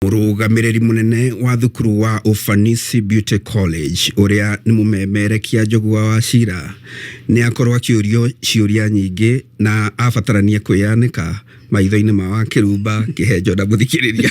Mũrũgamĩrĩri mũnene wa thukuru wa Ufanisi Beauty College ũrĩa nĩ mũmemerekia njũgua wa cira nĩ akorwo akĩũrio ciũria nyingĩ na abatarania kwĩyanĩka maitho-inĩ ma wa kĩrumba kĩhenjo na mũthikĩrĩria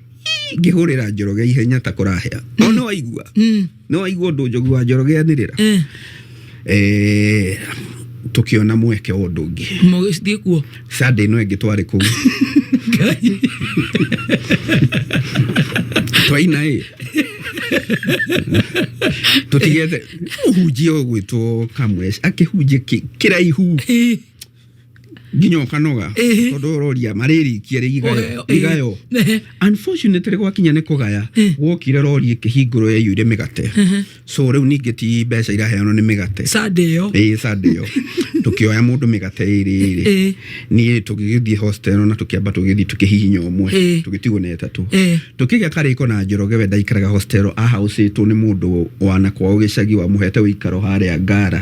ngĩhũrĩra njoroge ihenya ta kũrahĩa no nĩ waigua Mm. nĩ waigua ũndũ njogu wa njoroge anĩrĩra Eh, Eh, tũkĩona mweke wa ũndũ ũngĩ mũgĩthiĩ kuo sande ĩno ĩngĩ twarĩ kũu twaina ĩ tũtigete ũhunjia ũgwĩtwo kamwec akĩhunjia kĩ- kĩraihu Eh, nginya ũkanoga Ĩhĩ. tondũ ũroria marĩrikia rĩ igayo Oyo, ĩhĩ. igayo Ehe. unfortunately gwakinya nĩ kũgaya Eh. wokire rori ĩkĩhingũrwo yaiyũire mĩgate Ehe. so rĩu ningĩ ti mbeca iraheanwo nĩ mĩgate sande ĩyo ĩĩ sande ĩyo tũkĩoya mũndũ mĩgate ĩrĩ ĩrĩ Ĩĩ. niĩ tũgĩgĩthiĩ hostel na tũkĩamba tũgĩthiĩ tũkĩhihinya ũmwe Ĩĩ. tũgĩtigwo na ĩtatũ Ĩĩ. tũkĩgĩa karĩko na njoroge we ndaikaraga hostel ahaũcĩtwo nĩ mũndũ wa na kwao gĩcagi wamũhete ũikaro harĩa ngara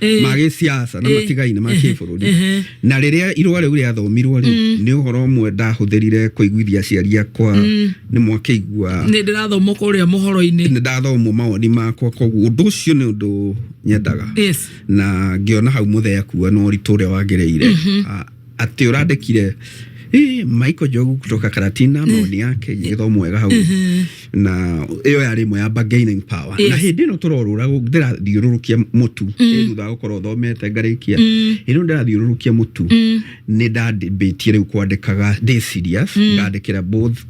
Eh. ma gĩsiasa na eh. matigaine ma eh. kĩbũrũri na rĩrĩa irũa rĩu rĩathomirwo rĩ mm. nĩ ũhoro ũmwe ndahũthĩrire kũiguithia aciari akwa mm. nĩ mwakĩigua nĩ ndĩrathoma kũrĩa mohoro-inĩ nĩ ndathomwo mawoni makwa koguo ũndũ ũcio nĩ ũndũ nyendaga na ngĩona hau mũthee akua no ũritũ ũrĩa wagĩrĩire mm-hmm. ah, Ati urandikire Ii, Michael Njogu kutoka Karatina maoni yake githo mwega hau na iyo yari imwe ya bargaining power na Yes. hindi ino turorura ndirathiururukia mutu Ĩ, thutha wa gukorwo thomete ngarikia ino ndirathiururukia mutu ni ndandimbitie riu kwandikaga ndi serious ngandikira both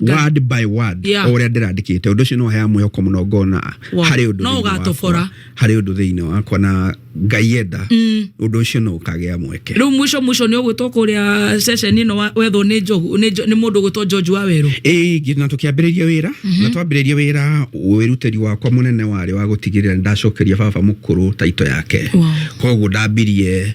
word by word Yeah. o ũrĩa ndĩrandĩkĩte ũndũ ũcio nĩ waheaga mwĩhoko mũno ngona Wow. harĩ ũndũ No thĩinĩ wakwa- ũgatobora. harĩ ũndũ thĩinĩ wakwa na ngai enda ũndũ ũcio no ũkagĩa mweke rä u mwico mwico nä å gwä two kå rä a ceceni ä no wa- wethwo nä njogu nä njo- nä må ndå å gwä two njonju wa werå ĩngĩ na tũkĩambĩrĩria wĩra na twambĩrĩria wĩra wĩrutĩri wakwa mũnene warĩ wa gũtigĩrĩra nĩ ndacokeria baba mũkũrũ taito yake Wow. koguo ndambirie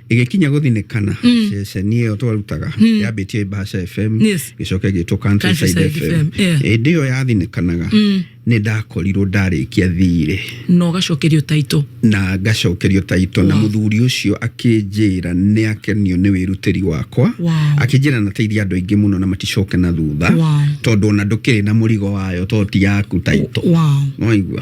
ĩgĩkinya gũthinĩkana mm. ceceni ĩyo twarutaga mm. yambĩtie Mbaca FM gĩcoke gĩtwo Countryside FM ĩndĩ ĩyo yathinĩkanaga mm. nĩ ndakorirwo ndarĩkia thiirĩ na ũgacokerio taito na ngacokerio taito na mũthuri ũcio akĩnjĩra nĩ akenio nĩ wĩrutĩri wakwa akĩnjĩra na teithia andũ aingĩ mũno na maticoke na thutha tondũ ona ndũkĩrĩ na mũrigo wayo to ti yaku taito waigua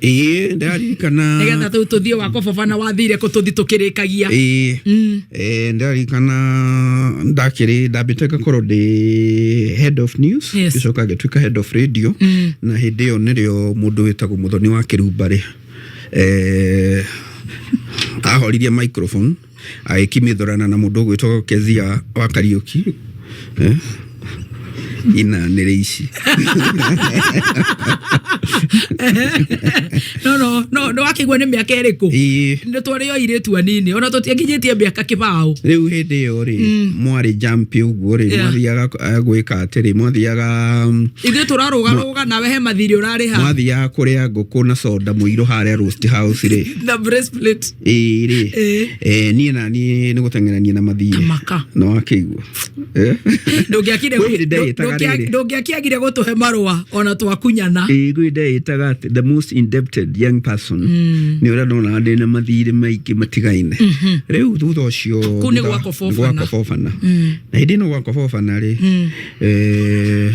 ĩĩ ndaririkana nä getha tå thiä wakwa baba na wathire kå tå thi tå kä rä kagia ĩĩ Eh, ndaririkana ndakĩrĩ ndambĩte ngakorwo ndĩ head of news Yes. ngĩcoka ngĩtuĩka head of radio na hĩndĩ ĩyo nĩrĩo mũndũ wĩtagwo mũthoni wa kĩrumbarĩ eh, ahoririe microphone agĩkimĩthũrana na mũndũ ũgwĩtwo Kezia wa Kariũki eh, ina nĩrĩ ici no no no no wakĩgua nĩ mĩaka ĩrĩkũ Ĩĩ, nĩ twarĩ o irĩtu anini ona tũtiakinyĩtie mĩaka kĩbaũ rĩu hĩndĩ ĩyo rĩ mwarĩ jampi ũguo rĩ Yeah. mwathiaga eh, gwĩka atĩrĩ mwathiaga mm, ithuĩ tũrarũgarũga nawe he mathirĩ ũrarĩha mwathiaga kũrĩa ngũkũ na soda mũirũ harĩa roast house rĩ na bracelet ĩĩ rĩ Ĩĩ. eh, niĩ na niĩ nĩ gũteng'erania na mathiĩ Kamaka. no akĩigua Eh? Ndũngĩakire- Kwĩ hĩndĩ ndeyĩtaga ndũngĩa- rĩrĩ. ndũngĩakiagire gũtũhe marũa ona twakunyana ĩĩ gwĩ ndeyĩtaga atĩ the most indebted young person nĩ ũrĩa ndonaga ndĩ na mathirĩ maingĩ matigaine rĩu thutha ũcio Kũu nĩ thutha- gwakobobana. gwakobobana. na hĩndĩ ĩno gwakobobana rĩ eh,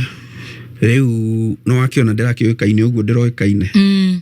rĩu no akĩona ndĩrakĩũĩkaine ũguo ndĩroĩkaine Mm.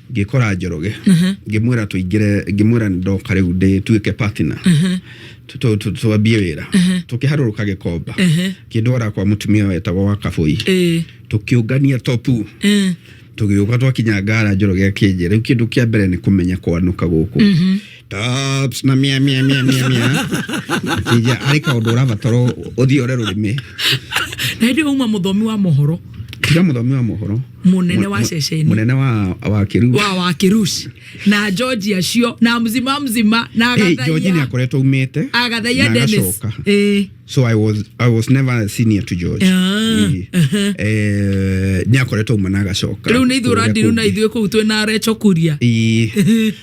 ngikora njoroge ngimwira tuingire ngimwira ndoka riu ndituike partner twambie wira tukiharuruka gikomba kindwara kwa mutumia wetagwo wa kabui tukiungania topu tugiuka twakinya ngara njoroge akinjira riu kindu kia mbere ni kumenya kwanuka guku Taps na mia mia mia mia mia. Kija ari ka undu urabataro uthiore rurimi. Na hindi uma muthomi wa mohoro. Kija muthomi wa mohoro. Munene wa ceceni. Munene wa wa kiru. Wa wa kirush. Na George acio na mzima mzima na agathaia. Hey, George ni akoretwo umite. Agathaia Dennis. Eh. So I was I was never senior to George. Ah, eh. Uh-huh. Eh, ni akoretwo umana agacoka. Riu ni ithurandi riu na ithuĩ kuu twina recho kuria. Eh.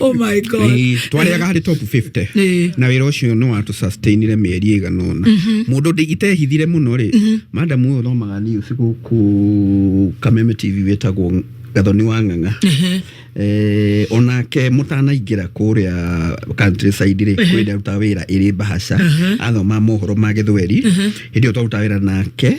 oh my god Ĩĩ, twarĩaga harĩ top 50 Ĩĩ. na wĩra ũcio nĩ watũ sustainire mĩeri ĩigana ũna mũndũ ndĩ- itehithire mũno rĩ madamu ũyũ thomaga niũ cigũkũ kameme tv wĩtagwo gathoni wa ng'ang'a Eh, onake mũtanaingĩra kũrĩa countryside rĩ kwĩ ndĩa rutaga wĩra ĩrĩ mbahaca athoma mohoro ma gĩthweri hĩndĩ ĩyo twarutaga wĩra nake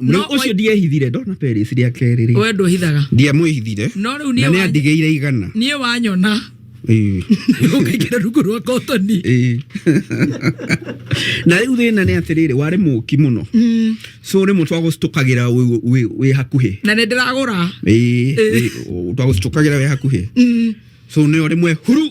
No, No, ũcio ndiehithire ndona Paris rĩa kerĩ rĩ we ndwĩhithaga ndiamwĩhithire no rĩu na niĩ nĩ wa- andigĩire igana niĩ wanyona Ĩĩ. ũkaingĩra rungu rwa kotoni Ĩĩ. na rĩu thĩna nĩ atĩrĩrĩ warĩ mũki mũno so rĩmwe twagũcitũkagĩra wĩ- wĩ- wĩ hakuhĩ na nĩ ndĩragũra Ĩĩ, ĩĩ, twagũcitũkagĩra wĩ hakuhĩ so nĩyo rĩmwe huru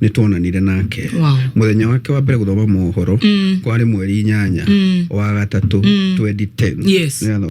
nä twonanire nake Wow. muthenya wake wa mbere guthoma mohoro Mm. kwarä mweri inyanya Mm. wa gatatå Mm. 2010 Yes. Nĩ atho-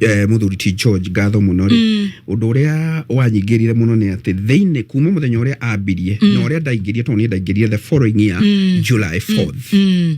eh, muthuri ti George ngatho muno ri mm. undu uria wanyingirire muno ni ati thiini kuma muthenya uria ambirie mm. na uria ndaingirie tondu ni ndaingirie the following year mm. July 4th mm. mm.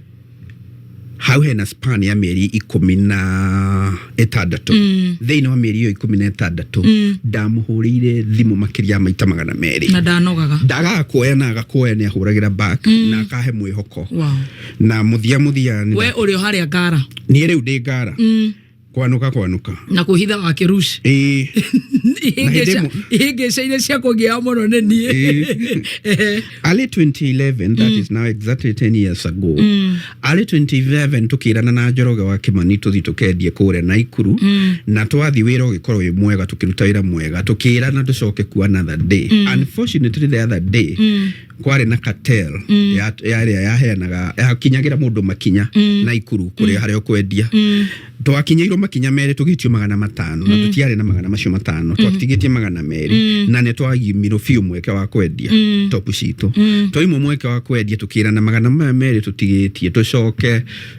hau hena span ya mieri ikumi na itandatu mm. thiini wa mieri iyo ikumi na itandatu mm. ndamuhurire thimu makiria maita magana meri na ndanogaga ndagaga kuoya na agakuoya ni ahuragira back mm. na akahe mwihoko wow. na muthia muthia we uri haria ngara ni riu ndi ngara mm. kwanũka kwanũka na kå hitha wa kä ruci ĩĩ hĩndĩ ĩmwe- ihĩngä ca iria cia kå ngä mũno nä niä Ĩĩ. early 2011 that is now exactly 10 years ago early 2011 tukirana na njoroge wa kimani tuthi tukendie kure na ikuru na twathi wira ugikorwo wi mwega tukiruta wira mwega tukirana tucoke ku another day unfortunately the other day kwarĩ na cartel mm. ya ya ĩrĩa yaheanaga yakinyagĩra mũndũ makinya mm. na ikuru kũrĩa mm. harĩa ũkwendia mm. twakinyĩirwo makinya merĩ tũgĩtio magana matano mm. na tũtiarĩ na magana macio matano mm. twatigĩtie magana merĩ mm. na nĩ twagimirwo biũ mweke wa kwendia mm. topu citũ mm. twaimwo mweke wa kwendia tũkĩra na magana maya merĩ tũtigĩtie tũcoke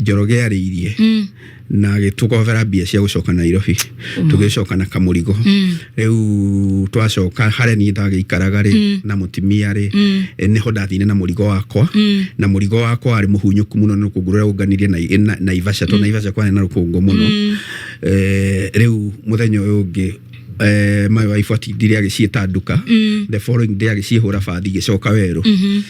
njoroge yarĩirie mm. na gĩtũkobera mbia cia gũcoka Nairobi mm. tũgĩcoka na kamũrigo mm. rĩu twacoka harĩa niĩ ndagĩikaraga rĩ mm. na mũtimia rĩ mm. Eh, nĩho ndathire na mũrigo wakwa mm. na mũrigo wakwa warĩ mũhunyũku mũno nĩ rũkũngũ rũrĩa ũnganirie na, na, Ivasha to mm. na Ivasha kwarĩ na rũkũngũ mũno mm. eh, rĩu mũthenya ũyũ ũngĩ eh, mayo wa ibuati ndire agĩciĩta nduka mm. the following day agĩciĩhũra bathi gĩcoka werũ mm -hmm.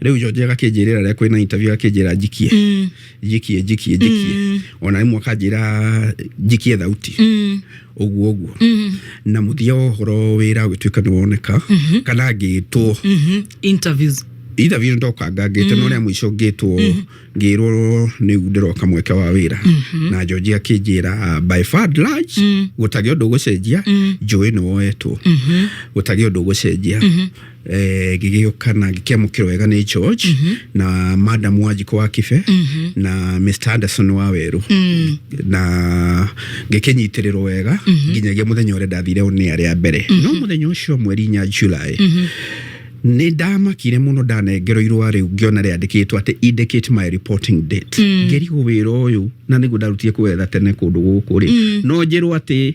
riu jonje gakĩnjĩrĩra rĩa kwĩna interview gakĩnjĩra njikie mm. njikie njikie njikie mm. ona imwe akanjĩra njikie thauti mm. uguo uguo mm. na muthia wa horo wira gituika ni woneka mm -hmm. kana ngitwo mm -hmm. interviews interview ndoka ngangite mm. no ria mwico ngitwo mm. ngirwo ni ndiroka mweke wa wira mm -hmm. na George akinjira uh, by far large mm. gutagi undu gucenjia mm. njui ni woetwo mm -hmm. gutagi undu gucenjia mm -hmm. eh, gĩgĩũka na gĩkĩamũkĩrwo wega nĩ George mm -hmm. na madam Wanjikũ wa Kibe mm -hmm. na Mr Anderson wa Werũ mm -hmm. na gĩkĩnyitĩrĩrwo wega mm -hmm. nginyagia mũthenya ũrĩa ndathire nĩ arĩa mbere mm -hmm. no mũthenya ũcio mweri inya July mm -hmm nä ndamakire må no ndanengerwo irå rä u ngä ona rä andäkä two atä indicate my reporting date mm. ngä rigå wä ra å yå na nä guo ndarutire kwetha tene kå ndå gå kå rä mm. no njä rwo atä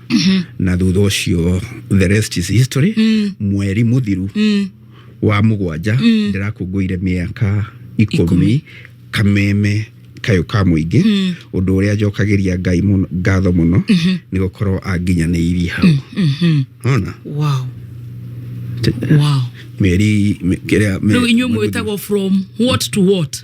mm -hmm. na thutha ucio the rest is history mm. mweri muthiru mm. wa mugwanja mm. ndirakungũire miaka ikumi kameme kayo ka muingi mm. undu uria njokagiria ngai muno ngatho muno mm -hmm. ni gukorwo anginyaniirie hau mm -hmm. ona wow wow meri kiria riu inyuĩ mwĩtagwo from what to what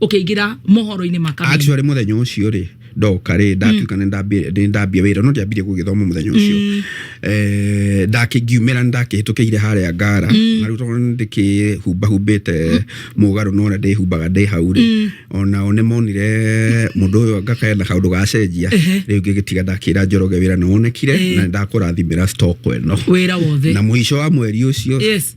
ukiingira mohoro-ini ma kameme actually muthenya ucio ri ndoka ri ndatuika ni ndambia ni ndambia wira no ndiambire gugithoma muthenya ucio eh ndakingiumira ndakihitukire haria ngara na riu tondu ndikihumba humbite mugaru no na ndihumbaga ndi hau ri ona one monire mundu uyu ngakayenda kaundu gacenjia riu ngigitiga ndakira njoroge wira no onekire na ndakurathimira stock eno wira wothe na muico wa mweri ucio yes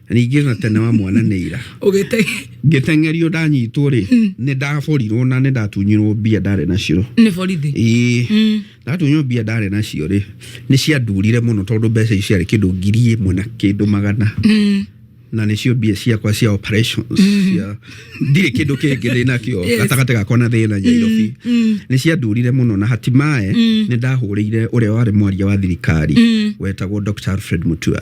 Ningĩ na tene wa mwana nĩ ira. Ũgĩte Ngĩteng'erio ndanyitwo rĩ, hmm. nĩ ndaborirwo na nĩ ndatunyirwo mbia ndarĩ nacio. Nĩ borithi? Ĩĩ. Hmm. Ndatunyirwo mbia ndarĩ nacio rĩ, nĩ ciandurire mũno tondũ mbeca icio ciarĩ kĩndũ ngiri ĩmwe na kĩndũ magana. Hmm. na nä cio mbia ciakwa cia operations cia ndirä kä ndå kä ngä ndä nakä gatagatĩ gakwa na thä na nyairobi nä ciandurire må no na hatimae nä ndahå rä ire å rä a warä mwaria wa thirikari wetagwo Dr. Alfred Mutua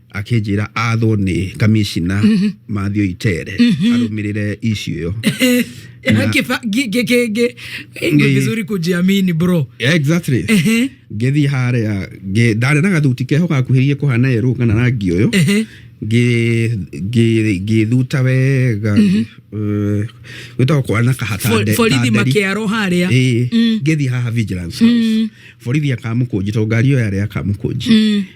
akinjira athwo ni kamishina Mathew Itere arumirire issue iyo Na- Kifa- gi- gi- gi- gi- ni Ngi- vizuri kujiamini bro Yeah, exactly Ehe, ngithii haria ngi- ndarĩ na gathuti keho gakuhĩrĩirie kũhana yerũ kana rangi ũyũ ehe. Ngi- ngi- ngĩthuta wega eh, gwĩtagwo kwana kahata Fo- nde- borithi kanderi. makiaro haria Ĩĩ, ngĩthiĩ haha vigilance house borithi akamũkũnji tondũ ngari ĩyo yarĩ akamũkũnji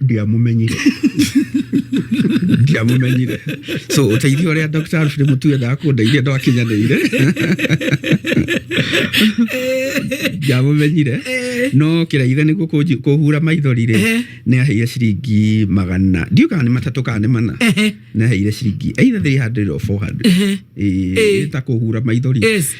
ndiamumenyire ndiamumenyire so uteithio uria Dr. Alfred Mutu endaga kundeithia ndwakinyanĩire ndiamumenyire no kĩraithe nĩguo kũnji- kũhura maithori rĩ Ehe. nĩ aheire ciringi magana ndiũ kana nĩ matatũ kana nĩ mana Ehe. nĩ aheire ciringi either 300 or 400 Ehe. Ĩĩ, Ĩĩ. ĩĩ ta kũhura maithori Yes.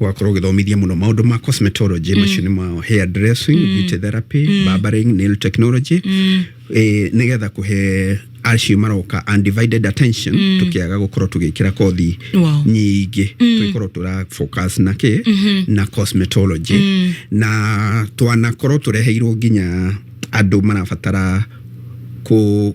wakorwo ũgĩthomithia muno maundu ma cosmetology mm. macio nĩ ma hair dressing mm. beauty therapy mm. barbering nail technology mm. eh, nigetha kuhe acio maroka undivided attention mm. tukiaga gukorwo tugikira kothi wow. nyingĩ mm. tugikorwo tura focus na ki mm -hmm. na cosmetology mm. na twanakorwo tureheirwo nginya andu marabatara ku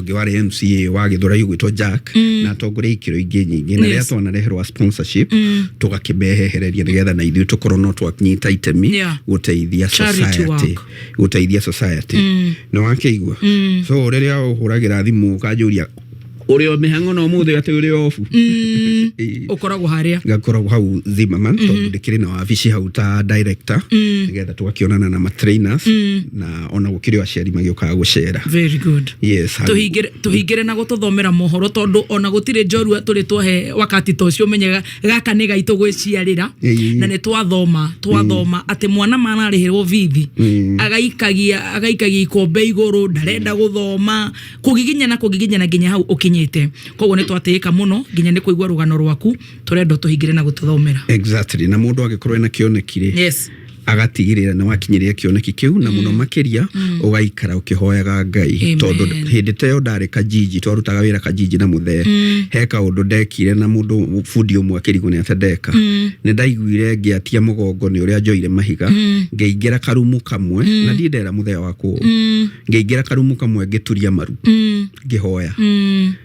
ũngĩ warĩ mca wa gĩthũrai ũgwĩtwo jack mm. na atongoria ikĩro ingĩ nyingĩ na rĩrĩa Yes. twanareherwa sponsorship Mm. tũgakĩmehehereria nĩgetha na ithuĩ tũkorwo no twanyita itemi Yeah. gũteithia Charity society work. gũteithia society Mm. nĩ wakĩigua Mm. so rĩrĩa ũhũragĩra thimũ ũkanjũria ũrĩ o mĩhango na ũmũthĩ atĩ ũrĩ obu Mm. Ĩ, ũkoragwo harĩa ngakoragwo hau Zimmerman tondũ ndĩkĩrĩ na wabici hau ta director Mm. nĩgetha tũgakĩonana na matrainers Mm. na ona gå kä rä o aciari magä å kaga gå cera Very good. Yes, hali- Tuhingire- tuhingire na gututhomera mohoro tondu ona gutire njorua turi twahe wakati ta ucio menyaga gaka nĩ gaitũ gwĩciarĩra Ĩĩ. na nĩ twathoma twathoma atĩ mwana mararĩhĩrwo bithi agaikagia agaikagia ikombe igũrũ ndarenda gũthoma kũgiginyana kũgiginyana nginya hau ũkinyĩte koguo nĩ twatĩĩka mũno nginya nĩ kũigua rũgano rwaku tũrenda tũhingire na gũtũthomera exactly na må ndå angä korwo ena kä onekire yes agatigĩrĩra nĩ wakinyĩria kĩoneki kĩu na mũno mm. makĩria mm. ũgaikara ũkĩhoyaga ngai tondũ hĩndĩ ta ĩyo ndarĩ kajiji twarutaga wĩra kajiji na mũthee mm. he kaũndũ ndekire na mũndũ bundi ũmwe akĩrigwo nĩ atendeka nĩ ndaiguire ngĩatia mũgongo nĩ ũrĩa njoire mahiga ngĩingĩra karumu kamwe na ndiĩ ndera mũthee wa kũũ ngĩingĩra karumu kamwe ngĩturia maru ngĩhoya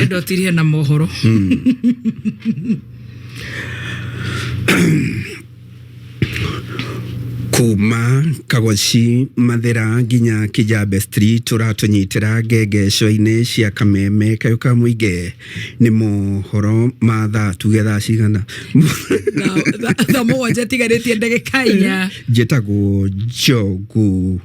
Enda ũtirie na mohoro. kuma kagoci mathira nginya kijambe street ũratũnyitĩra ngengeco-inĩ cia kameme kayo ka mũingĩ nĩ mohoro ma thaa tuge thaa cigana Tha- tha- Thaa mũgwanja tigarĩtie ndagĩka inya. njĩtagwo njogu